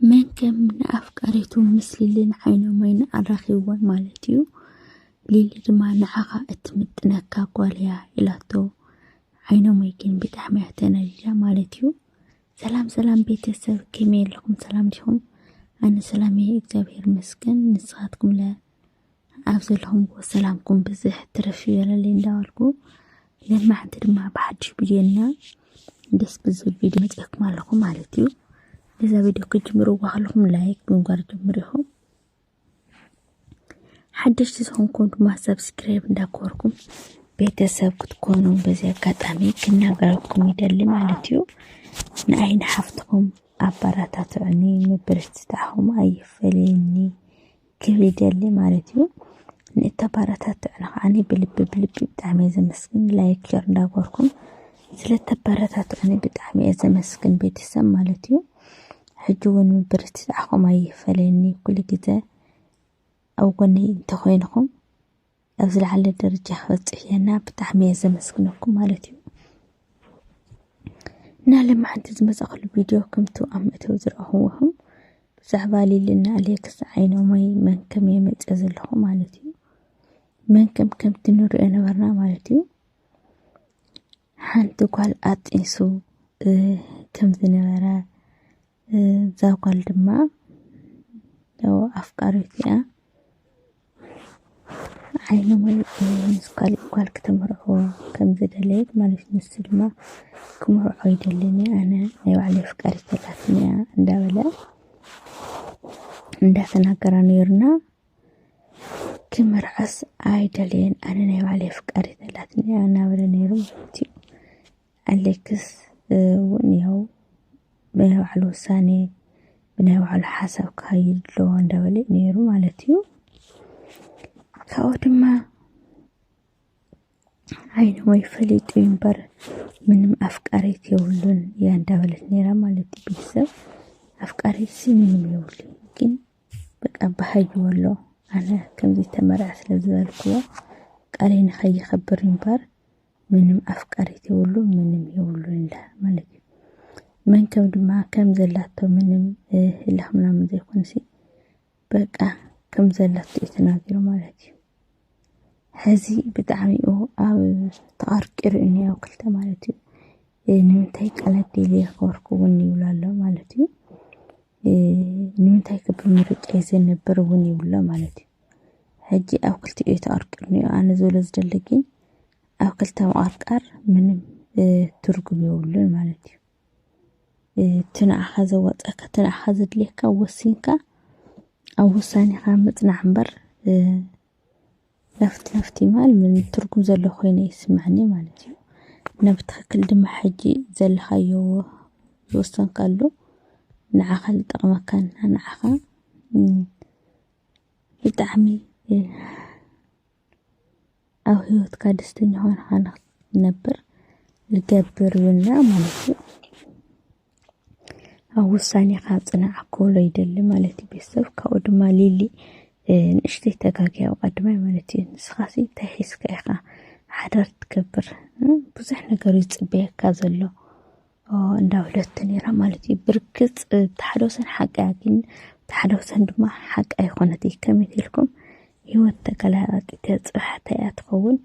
መን ከም ንኣፍቃሪቱ ምስ ሊሊ ንዓይኖም ዓይኒ ኣራኺብወን ማለት እዩ። ሊሊ ድማ ንዓኻ እትምጥነካ ጓል እያ ኢላቶ ዓይኖመይ ግን ብጣዕሚ እያ ተናዲዳ ማለት እዩ። ሰላም ሰላም ቤተሰብ ከመይ ኣለኹም ሰላም ዲኹም? ኣነ ሰላም እየ እግዚኣብሔር ይመስገን ንስኻትኩም ለ ኣብ ዘለኹምዎ ሰላምኩም ብዝሕ ትርፍ ይበለለይ እንዳበልኩ ለማዕንቲ ድማ ብሓድሽ ቪድዮና ደስ ብዝብል ቪድዮ መፅኤኩም ኣለኹ ማለት እዩ ነዛ ቪድዮ ክጅምርዋ ከለኹም ላይክ ብምግባር ጀምሩ ኢኹም ሓደሽቲ ዝኾንኩም ድማ ሰብስክራይብ እንዳኮርኩም ቤተሰብ ክትኮኑ በዚ ኣጋጣሚ ክናገረኩም ይደሊ ማለት እዩ ንኣይ ንሓፍትኹም ኣበረታትዑኒ ምብርትታዕኹም ኣይፈለየኒ ክብል ይደሊ ማለት እዩ ንእተበረታትዑና ከዓኒ ብልቢ ብልቢ ብጣዕሚ እየ ዘመስግን ላይክ ሸር እንዳገበርኩም ስለተበረታትዑኒ ብጣዕሚ እየ ዘመስግን ቤተሰብ ማለት እዩ ሕጂ እውን ምብርትታዕኹም ኣይፈለየኒ ኩሉ ግዜ ኣብ ጎነይ እንተኾይንኹም ኣብ ዝለዓለ ደረጃ ክበፅሕየና ብጣዕሚ እየ ዘመስግነኩም ማለት እዩ እና ልምዓንቲ ዝመፀኸሉ ቪድዮ ከምቲ ኣብ መእተዊ ዝረኣኹዎም ብዛዕባ ሊልና ኣሌክስ ዓይኖመይ መን ከም የመፀ ዘለኹ ማለት እዩ መን ከም ከምቲ ንሪኦ ነበርና ማለት እዩ ሓንቲ ጓል ኣጢንሱ ከም ዝነበረ እዛ ጓል ድማ ያው ኣፍቃሪት እያ ዓይኒ ሙሉ ምስ ካሊእ ጓል ክትምርዖ ከም ዝደለየት ማለት እዩ። ንሱ ድማ ክምርዖ ይደልን እየ ኣነ ናይ ባዕለይ ኣፍቃሪት ኣላትኒ እያ እንዳበለ እንዳተናገራ ነይሩና ክምርዐስ ኣይደለየን ኣነ ናይ ባዕለይ ኣፍቃሪት ኣላትኒ እያ እናበለ ነይሩ ማለት እዩ። ኣሌክስ እውን ይኸው ብናይ ባዕሉ ውሳኔ ብናይ ባዕሉ ሓሳብ ክኸይድ ኣለዎ እንዳበለ እዩ ነይሩ ማለት እዩ ካብኡ ድማ ዓይኒ ወይ ፈሊጡ እዩ እምበር ምንም ኣፍቃሪት የብሉን እያ እንዳበለት ነይራ ማለት እዩ ቤተሰብ ኣፍቃሪት ሲ ምንም የብሉ ግን በቃ ባህይዎ ኣሎ ኣነ ከምዚ ተመርዐ ስለ ዝበልክዎ ቃለይ ንኸይኸብር እምበር ምንም ኣፍቃሪት የብሉ ምንም የብሉ እንዳ ማለት እዩ መን ከም ድማ ከም ዘላቶ ምንም ህላኽ ምናምን ዘይኮንሲ በቃ ከም ዘላቶ እዩ ተናጊሩ ማለት እዩ ሕዚ ብጣዕሚ እዩ ኣብ ተቐርቂሩ እዩ እኒኦ ክልተ ማለት እዩ ንምንታይ ቃላት ደልየ ክበርኩ እውን ይብሎ ኣሎ ማለት እዩ ንምንታይ ክብምርጫ ይዘነብር እውን ይብሎ ማለት እዩ ሕጂ ኣብ ክልቲኡ ተቐርቂሩ እኒኦ ኣነ ዝብሎ ዝደሊ ግን ኣብ ክልተ ምቕርቃር ምንም ትርጉም የብሉን ማለት እዩ እቲ ንዓኻ ዘዋፅኣካ እቲ ንዓኻ ዘድልየካ ወሲንካ ኣብ ውሳኔኻ ምፅናዕ እምበር ለፍቲ ለፍቲ ማል ምን ትርጉም ዘሎ ኮይነ ይስምዐኒ ማለት እዩ እና ብትኽክል ድማ ሕጂ ዘለኻዮ ዝወሰንካሉ ንዓኻ ዝጠቕመካን ንዓኻ ብጣዕሚ ኣብ ሂወትካ ደስተኛ ኾንኻ ንኽትነብር ዝገብር እዉን እያ ማለት እዩ። ኣብ ዉሳኔኻ ጽናዕ ክብሎ ይደሊ ማለት እዩ ቤተሰብ ካብኡ ድማ ሊሊ ንእሽተይ ተጋግያ ኣብ ቀዳማይ ማለት እዩ ንስኻሲ እንታይ ሒዝካ ኢኻ ሓዳር ትገብር ብዙሕ ነገር እዩ ዝጽበየካ ዘሎ። እንዳበለት ነይራ ማለት እዩ ብርግፅ እቲ ሓደ ወሰን ሓቂ እያ ግን እቲ ሓደ ወሰን ድማ ሓቂ ኣይኮነት እዩ ከመይ ኢልኩም ህይወት ተገላባጢት እያ ፅባሕ እንታይ እያ ትኸውን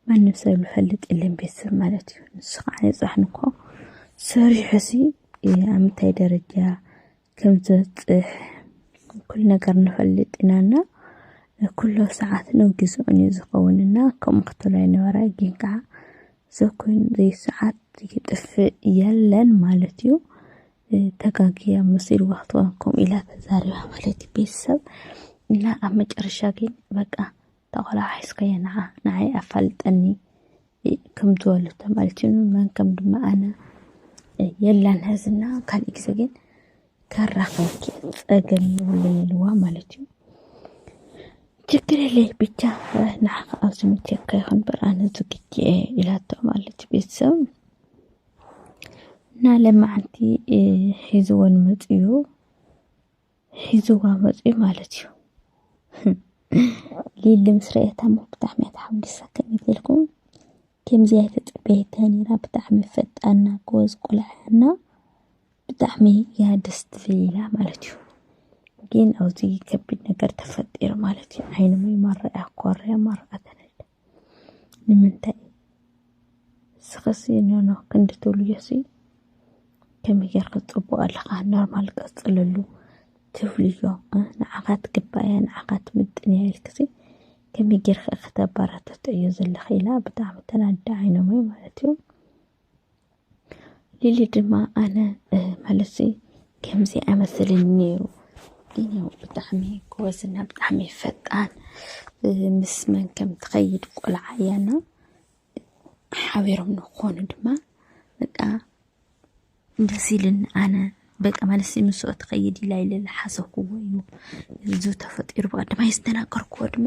ማንም ሰብ ዝፈልጥ የለን ቤተሰብ ማለት እዩ ንሱ ከዓ ንፃሕ ንኮ ሰሪሑ ሲ ኣብ ምንታይ ደረጃ ከም ዘብጽሕ ኩሉ ነገር ንፈልጥ ኢና እና ኩሉ ኣብ ሰዓቱን ኣብ ግዜኡን እዩ ዝኸውን እና ከምኡ ክትብል ኣይነበራይ ግን ከዓ ሰብ ኮይኑ ዘይሰዓት ይጥፍእ የለን ማለት እዩ። ተጋግያ መሲልዋ ክትኮን ከምኡ ኢላ ተዛሪባ ማለት እዩ ቤተሰብ እና ኣብ መጨረሻ ግን በቃ እታ ቆልዓ ሓሒስካያ ንዓ ንዓይ ኣፋልጠኒ ከምቲ ወሉ ተማልችኑ መን ከም ድማ ኣነ የላን ሀዝና ካልእ ግዜ ግን ከራኸብኪ ጸገም ይብለይ ኢልዋ ማለት እዩ ችግር የለይ ብቻ ንዓኻ ኣብ ዝምቸካ ይኹን በር ኣነ ዝግጅ እየ ኢላቶ ማለት እዩ ቤተሰብ እና ለማዓንቲ ሒዝወን መፅኡ ሒዝዋ መፅዩ ማለት እዩ ሊሊ ምስ ረኣየታ እሞ ብጣዕሚ እያ ተሓጒሳ ከመይ ኢልኩም ከምዚ ኣይተፀበየታ ነይራ ብጣዕሚ ፈጣና ጎበዝ ቆልዓ እና ብጣዕሚ እያ ደስ ትብል ኢላ ማለት እዩ ግን ኣብዚ ከቢድ ነገር ተፈጢሩ ማለት እዩ ዓይኒ ማይ ማረኣ ኮርያ ማረኣ ተነደ ንምንታይ ንስኻሲ ኖኖ ክንዲ ትብልዮሲ ከመይ ጌርካ ጽቡቕ ኣለኻ ኖርማል ቀጽለሉ ትብልዮ ንዓኻ ትግባእያ ንዓኻ ትምጥንያ ኢልክሲ ከመይ ጌርካ ከተባራትትዕዮ ዘለኺ ኢላ ብጣዕሚ ተናዲደ ዓይኖመይ ማለት እዩ። ሊሊ ድማ ኣነ መልሲ ከምዚ ኣይመስልን ነይሩ ግን ያው ብጣዕሚ ጎበዝና ብጣዕሚ ፈጣን ምስ መን ከም ትኸይድ ቆልዓ እያና ሓቢሮም ንክኾኑ ድማ በቃ ደስ ኢልን ኣነ በቃ መልሲ ምስኦ ትኸይድ ኢላ ኢለ ዝሓሰብኩዎ እዩ እዚ ተፈጢሩ ብቐዳማይ ዝተናገርኩዎ ድማ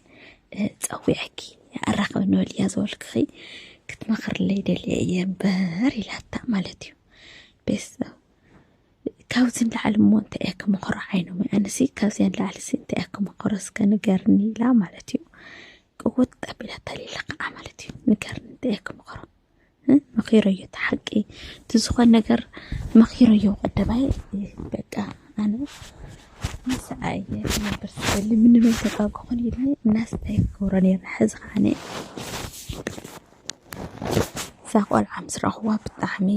ፀዊዐኪ ኣራኸብ ንበል እያ ዝበልክኺ ክትመኽርለይ ደልየ እየ እምበር ኢላታ ማለት እዩ ቤተሰብ ካብዚ ንላዕሊ እሞ እንታይ እያ ክመኽሮ ዓይኖም ኣነሲ ካብዚያ ንላዕሊ ሲ እንታይ እያ ክመኽሮ እስከ ንገርኒ ኢላ ማለት እዩ ቅውጥ ኣቢላታ ሌላ ከዓ ማለት እዩ ንገርኒ እንታይ እያ ክመኽሮ መኺረዮ እቲ ሓቂ እቲ ዝኾነ ነገር መኺረዮ ቀደባይ በቃ ኣነ ምስኣየ ነበር ስደሊ ምንመይ ተቃብ ክኾን ኢልኒ እናስታይ ክገብሮ ነርና ሕዚ ከዓነ እዛ ቆልዓ ምስ ረኽዋ ብጣዕሚ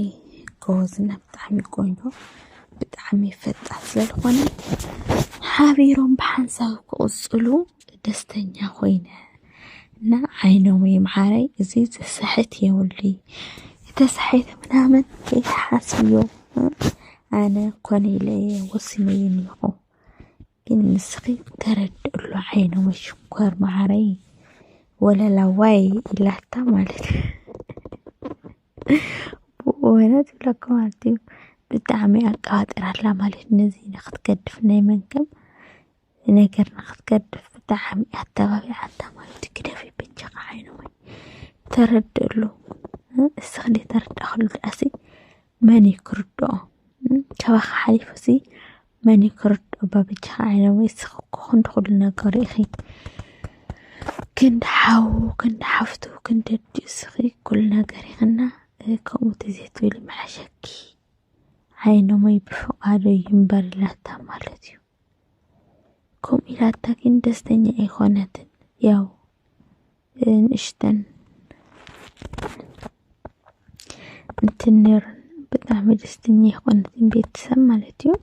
ጎበዝና ብጣዕሚ ቆንጆ ብጣዕሚ ፈጣን ስለዝኾነ ሓቢሮም ብሓንሳብ ክቕፅሉ ደስተኛ ኮይነ እና ዓይኖም ይምዓረይ እዚ ዝስሕት የብሉይ ተሳሒተ ምናምን ከይትሓስብዮ ኣነ ኮነ ኢለ እየ ወሲነ እየ እኒኹ ግን ንስኺ ተረድእሉ ዓይኖም ሽኮር መዓረይ ወለላዋይ ኢላታ ማለት ብእውነት ብለካ ማለት እዩ ብጣዕሚ ኣቃባጢራላ ማለት ነዚ ንክትገድፍ ናይ መንከም ንነገር ንክትገድፍ ብጣዕሚ እያ ኣተባቢዓታ ማለት እዩ። ግደፊ በጃኻ ዓይኒ ማይ ተረድእሉ። እስኺ ዘይተረዳእኽሉ ድኣሲ መን እዩ ክርድኦ? ካባኻ ሓሊፉ እዚ መን እዩ ክርድኦ? እባ በጃኻ ዓይኒ ማይ እስኺ እኮ ክንዲ ኩሉ ነገሩ ኢኺ ክንዲ ሓው ክንዲ ሓፍቱ ክንዲ ኣዲኡ እስኺ ኩሉ ነገር ኢኽና ከምኡ ተዘይትብሊ ምሓሸኪ። ዓይኒ ማይ ብፍቓዱ እዩ እምበር ኢላታ ማለት እዩ። ከምኡ ኢላታ ግን ደስተኛ ኣይኮነትን። ያው ንእሽተን እንትን ነይረን ብጣዕሚ ደስተኛ ኣይኮነትን ቤተሰብ ማለት እዩ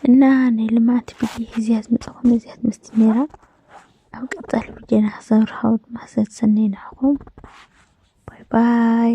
እና ናይ ልምዓት ቪድዮ እዚኣ ዝመፅኹም እዚኣ ትመስል ነይራ። ኣብ ቀፃሊ ቪድዮና ክሰብርሃው ድማ ሰሰናይ ንዓኹም ባይ ባይ